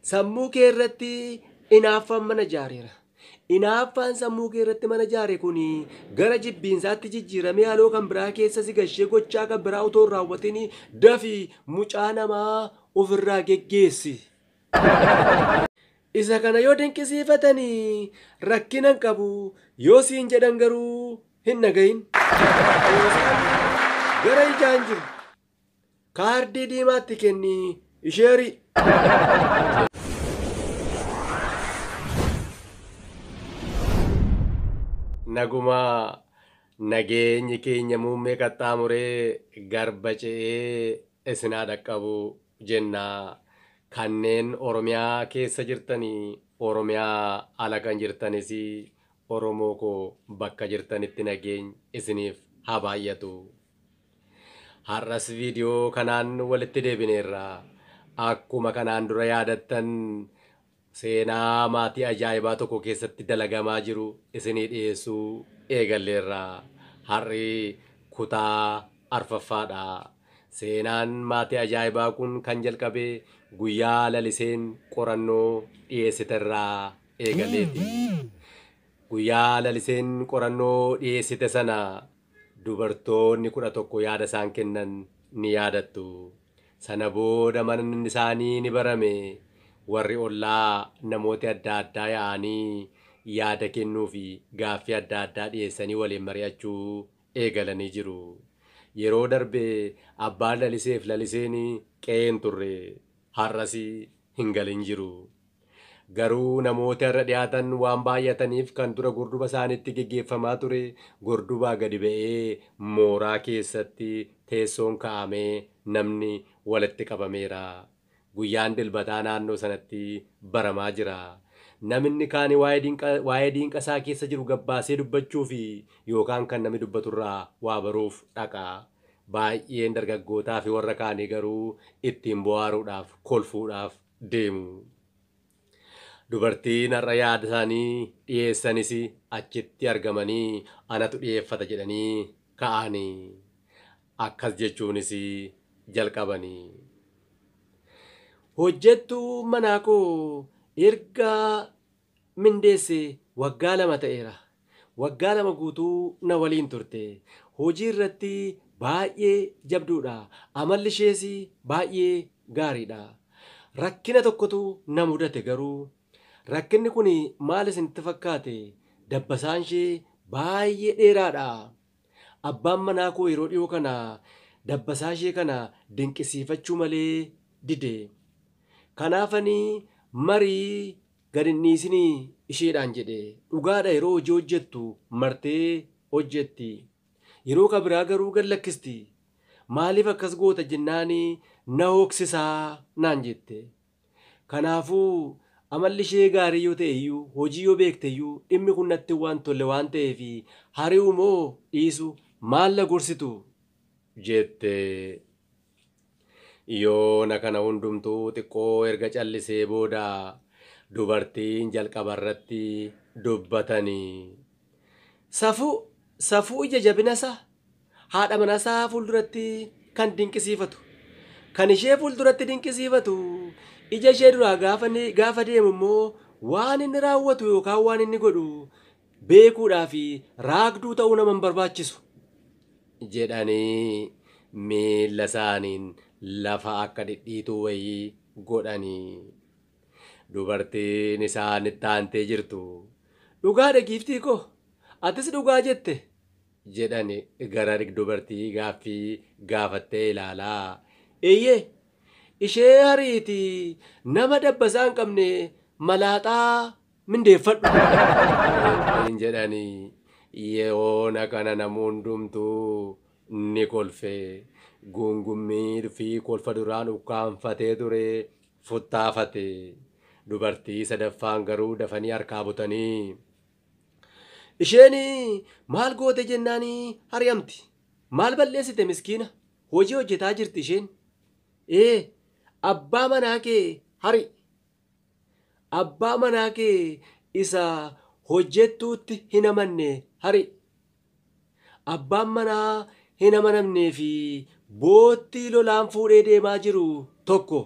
Sammuu kee irratti inaaffaan mana ijaareera. Inaaffaan sammuu kee irratti mana ijaare kun gara jibbiinsaatti jijjiiramee haaloo kan biraa keessa si gashee gochaa kan biraa otoo hin raawwatin dafi mucaa namaa ofirraa geggeessi. Isa kana yoo dinqisiifatanii rakkina hin qabu yoo siin jedhan garuu hin dhagahin. Gara ijaan jiru Kaardii diimaatti kenni isheerii. Nagumaa nageenyi keenya muummee qaxxaamuree garba ce'ee isin haa dhaqqabu jenna. Kanneen Oromiyaa keessa jirtanii Oromiyaa ala kan jirtanis Oromoo koo bakka jirtanitti nageenyi isiniif haa baay'atu. Har'as viidiyoo kanaan walitti deebineerra. Akkuma kanaan dura yaadattan seenaa maatii ajaa'ibaa tokko keessatti dalagamaa jiru isinii dhiyeessuu eegalleerra. Har'i kutaa arfaffaadha. Seenaan maatii ajaa'ibaa kun kan jalqabe guyyaa Laliseen qorannoo dhiyeessiterraa eegaleeti. Guyyaa Laliseen qorannoo dhiyeessite sana Dubartoonni 11 yaada isaan kennan ni yaadattu. Sana booda manann isaanii ni barame. Warri ollaa namooti adda addaa ya'aanii yaada kennuu fi gaaffii adda addaa dhiyeessanii waliin mari'achuu eegalanii jiru. Yeroo darbe abbaan Laliseef Laliseen qe'ee hin turre. Har'as hin galin jiru. Garuu namoota irra dhihaatan waan baay'ataniif kan dura gorduba isaaniitti geggeeffamaa ture gordubaa gadi ba'ee mooraa keessatti teessoon ka'amee namni walitti qabameera. Guyyaan Dilbataa naannoo sanatti baramaa jira. Naminni kaani waa'ee diinqa isaa keessa jiru gabbaasee dubbachuufi yookaan kan nami dubbatu irraa waa baruuf dhaqa. Baay'een dargaggootaafi warra kaanii garuu ittiin bohaaruudhaaf, kolfuudhaaf, deemu. Dubartiin har'a yaadasaanii dhiyeessanis achitti argamanii anatu dhiyeeffata jedhanii ka'aani. Akkas jechuunis jalqabani. Hojjettuun manaakoo erga mindeesse waggaa lama ta'eera. Waggaa lama guutuu na waliin turte. Hojii irratti baay'ee jabduudha. Amalli ishees baay'ee gaariidha. Rakkina tokkotu na mudate garuu. Rakkinni kun maal isinitti fakkaate? Dabbasaan ishee baay'ee dheeraadha. Abbaan manaa koo yeroo dhiyoo kana dabbasaa ishee kana dinqisiifachuu malee dide. Kanaafan marii gad hin dhiisinii isheedhaan jedhe dhugaadha yeroo hojii hojjettu martee hojjetti yeroo ka biraa garuu gad lakkisti maaliif akkas goota jennaani na hooksisaa naan jette kanaafuu amalli ishee gaarii yoo ta'e iyyuu hojii yoo beekte iyyuu dhimmi kun natti waan tolle waan ta'eef hari'u moo dhiisu maal na gorsitu jette. Yoona kana hundumtuu xiqqoo erga callisee booda dubartiin jalqaba irratti dubbatani. Safuu, Safuu ija jabina isaa, haadha mana isaa fuulduratti kan dinqisiifatu. Kan ishee fuulduratti dinqisiifatu ija ishee duraa gaafa, gaafa deemu immoo waan inni raawwatu yookaan waan inni godhu beekuudhaaf raagduu ta'uu nama hin barbaachisu. jedhanii miilla isaaniin lafa akka dhidhiituu wayii godhanii. Dubartiin isaan itti aantee jirtu dhugaadha giiftii koo atis dhugaa jette jedhani gara dubartii gaaffii gaafattee ilaalaa. Eeyyee ishee hariitii nama dabbasaa hin qabne malaaxaa mindeeffadhu waliin jedhanii yeoona kana namu hundumtuu ni kolfe guungummii fi kolfa duraan ukkaanfatee ture futtaafate dubartii sadaffaan garuu dafanii harkaa butanii isheen maal goote jennaan hari'amti maal balleessite miskiina hojii hojjetaa jirti isheen ee abbaa manaa kee hari Abbaa manaa kee isa hojjettuutti hin amanne hari'i. Abbaan manaa hin amanamnee fi boottii lolaan fuudhee deemaa jiru tokko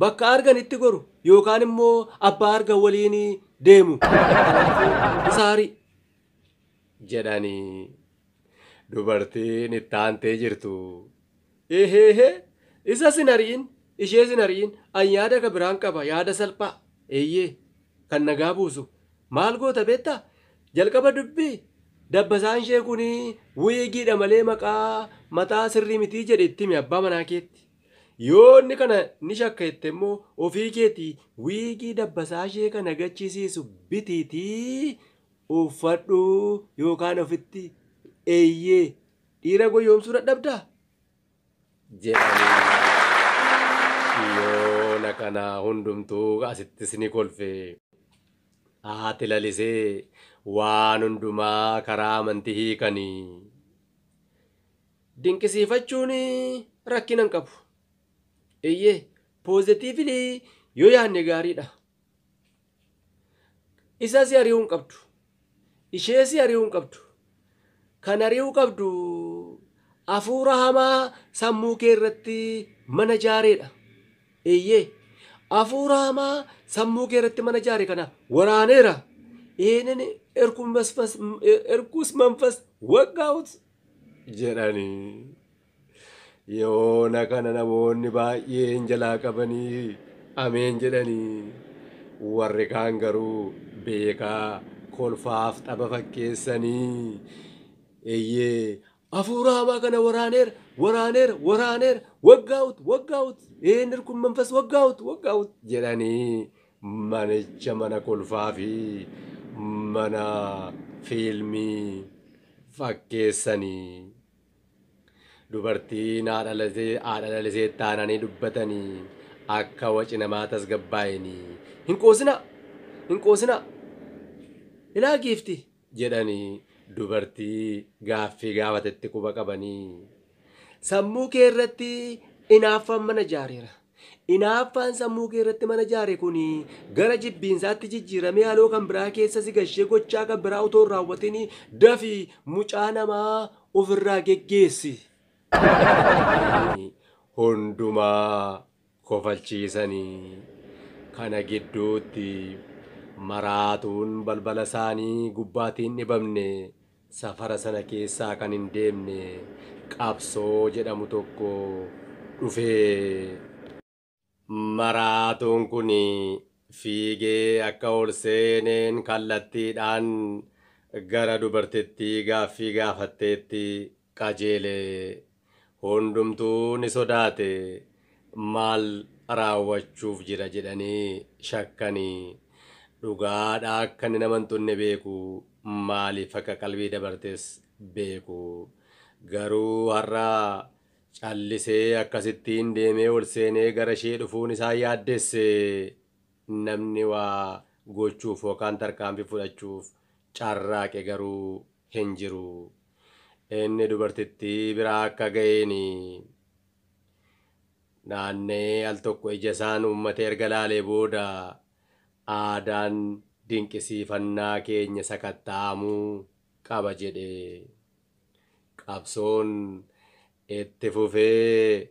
bakka arganitti goru yookaan immoo abbaa argan waliin deemu. Kanaafuu isa hari'i! jedhani. Dubartiin itti aantee jirtu, Eheehe, isas hin ari'in, ishees hin ari'in, an yaada ka biraan qaba, yaada salphaa, eeyyee, kan nagaa buusu. Maal goota beektaa? Jalqaba dubbii, dabbasaan ishee kun wiigiidha malee maqaa mataa sirrii mitii jedhe itti himi abbaa manaa keetti. Yoo inni kana ni shakka jette immoo ofii keetii wiigii dabbasaa ishee kana gachisiisu bitiitii uffadhu yookaan ofitti eeyyee dhiira goyyoomsuu dadhabdaa? jedhanii yoona kana hundumtuu asittis ni kolfe. Haati lalisee waan hundumaa karaa amantii hiikani. Dinqisiifachuun rakkina hin qabu. Eeyyee, poozitiivili yoo yaadne gaariidha. Isa si ari'uu hin qabdu. Ishee si ari'uu hin qabdu. Kan ari'uu qabdu hafuura hamaa sammuu kee irratti mana jaareedha. Eeyyee. Hafuura hamaa sammuu kee irratti mana jaare kana waraaneera. Ihinin erkuus manfas waggaa'ut jedhanii. Yoona kana namoonni baay'een jalaa qabanii ameen jedhanii warri kaan garuu beekaa kolfaaf tapha fakkeessanii eeyyee hafuura hamaa kana waraaneera waraaneera waraaneera waggaa'ut waggaa'ut eenyir kun manfas waggaa'ut waggaa'ut jedhanii manicha mana kolfaa fi mana fiilmii fakkeessanii. Dubartiin haadha lasee haadha lalisee taananii dubbatanii akka waci namaa tasgabbaa'inii hin qoosinaa hin qoosinaa ilaa giifti jedhanii dubartii gaaffii gaafatetti quba qabanii sammuu kee irratti inaaffaan mana jaareera. Inaaffaan sammuu kee irratti mana ijaare kun gara jibbiinsaatti jijjiiramee haloo kan biraa keessa si gashee gochaa kan biraa otoo hin raawwatin dafi mucaa namaa of irraa geggeessi. Namoonni hundumaa kofalchiisanii kana gidduutti maraatuun balbala isaanii gubbaatii hin dhibamne. Safara sana keessaa kan hin deemne qabsoo jedhamu tokko dhufe. Maraatuun kun fiigee akka ol seeneen kallattiidhaan gara dubartittii gaaffii gaafatteetti qajeele. Hundumtuu ni sodaate. Maal raawwachuuf jira jedhanii shakkanii. Dhugaadha akka inni nama hin tunne beeku. Maaliif akka qalbii dabartes beeku. Garuu har'a callisee akkasittiin deemee ol seenee gara ishee dhufuun isaan yaaddesse. Namni waa gochuuf yookaan tarkaanfii fudhachuuf carraaqe garuu hin jiru. Inni dubartittii bira akka ga'een naanna'ee al tokko ija isaan uummate erga laalee booda aadaan dinqisiifannaa keenya sakatta'amuu qaba jedhe. Qabsoon itti fufee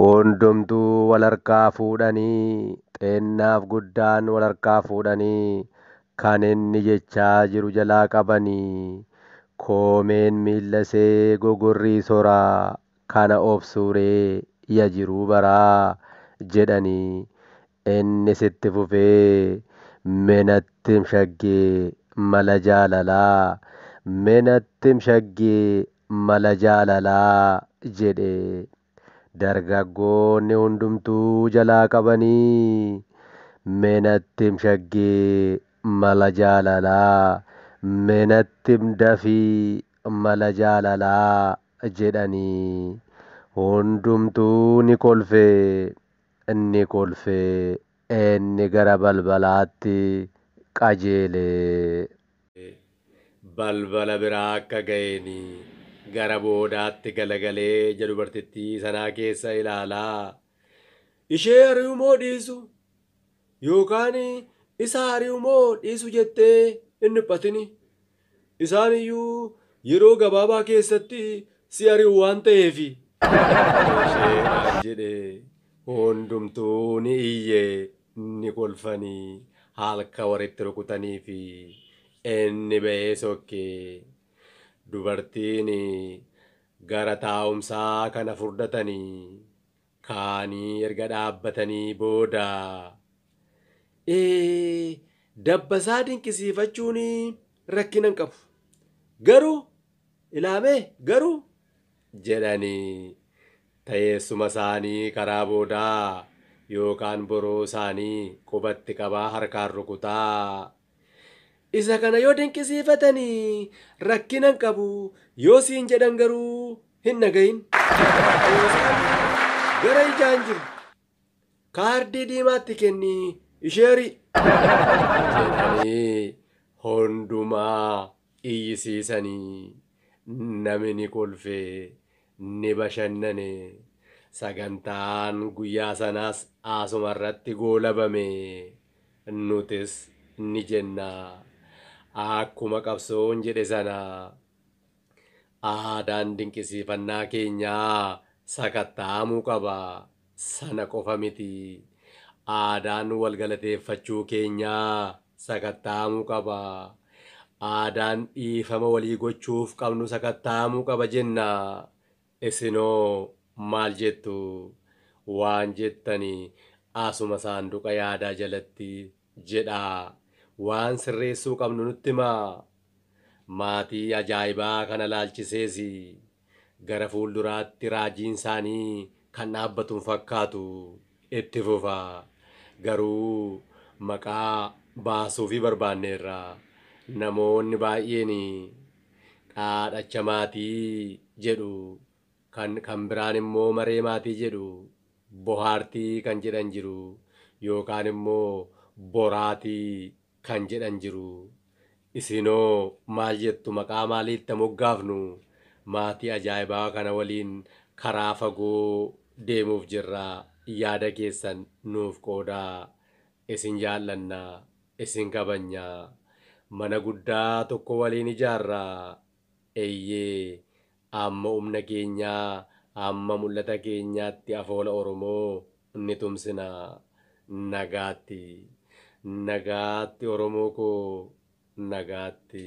Hundumtuu wal harkaa fuudhanii xeennaaf guddaan wal harkaa fuudhanii kan inni jechaa jiru jalaa qabanii koomeen miilla see gogorrii sora kana obsuu ree ya jiruu baraa jedhanii innis itti fufee me nattim shaggee mala jaalalaa me nattim shaggee mala jaalalaa jedhe dargaggoonni hundumtuu jalaa qabanii mee natti him shaggee mala jaalalaa mee natti him dafii mala jaalalaa jedhanii hundumtuu ni kolfe ni kolfe inni gara balbalaatti qajeele. balbala biraa akka ga'een gara boodaatti galagalee ija dubartittii sanaa keessa ilaalaa ishee ari'u moo dhiisu yookaan isa ari'u moo dhiisu jettee hin dhiphatini. Isaan iyyuu yeroo gabaabaa keessatti si ari'u waan ta'eefi. Ishee jedhe hundumtuu ni iyye. ni kolfani halka wari itti rukutanifi inni bahee sokke dubartiini gara taa'umsaa kana furdatani kaanii erga dhaabbatanii booda ee dabbasaa dinqisiifachuuni rakkina hin qabu garuu ilaamee garuu jedhani Taeessuma saanii karaa boodaa yookaan boroo saanii qubatti qabaa harkaan rukutaa. Isa kana yoo dinqisiifatani rakkina hin qabu, yoo siin jedhan garuu hin dhagahin. Poostaan gara ijaan jiru kaardii diimaatti kenni isheerii. Jettanii hundumaa iyyisiisani nami ni kolfe ni bashannane sagantaan guyyaa sanaas asuma irratti goolabame nutis ni jenna akkuma qabsoon jedhe sana aadaan dinqisiifannaa keenyaa sakatta'amuu qaba Sana qofa miti, aadaan wal galateeffachuu keenyaa sakatta'amuu qaba. Aadaan dhiifama walii gochuuf qabnu sakatta'amuu qaba jenna. Isinoo maal jettu? Waan jettani asuma saanduqa yaadaa jalatti jedhaa. Waan sirreessuu qabnu nutti himaa. Maatii ajaa'ibaa kana ilaalchisees Gara fuulduraatti raajiin isaanii kan dhaabbatu hin fakkaatu. Itti fufa. Garuu maqaa baasuufii barbaanneerra. Namoonni baay'een dhaadhacha maatii jedhu, kan kan biraan immoo maree maatii jedhu, bohaartii kan jedhan jiru, yookaan immoo boraatii kan jedhan jiru. Isiinoo maal jettu maqaa maalii itti haa moggaafnu? Maatii ajaa'ibaa kana waliin karaa fagoo deemuuf jirra. Yaada keessan nuuf qoodaa. Isin jaallanna. Isin kabajna. Mana guddaa tokko waliin ijaarra. Eeyyee Amma umna keenya amma mul'ata keenyaatti afoola Oromoo ni tumsina. Nagaatti. Nagaatti Oromoo koo Nagaatti.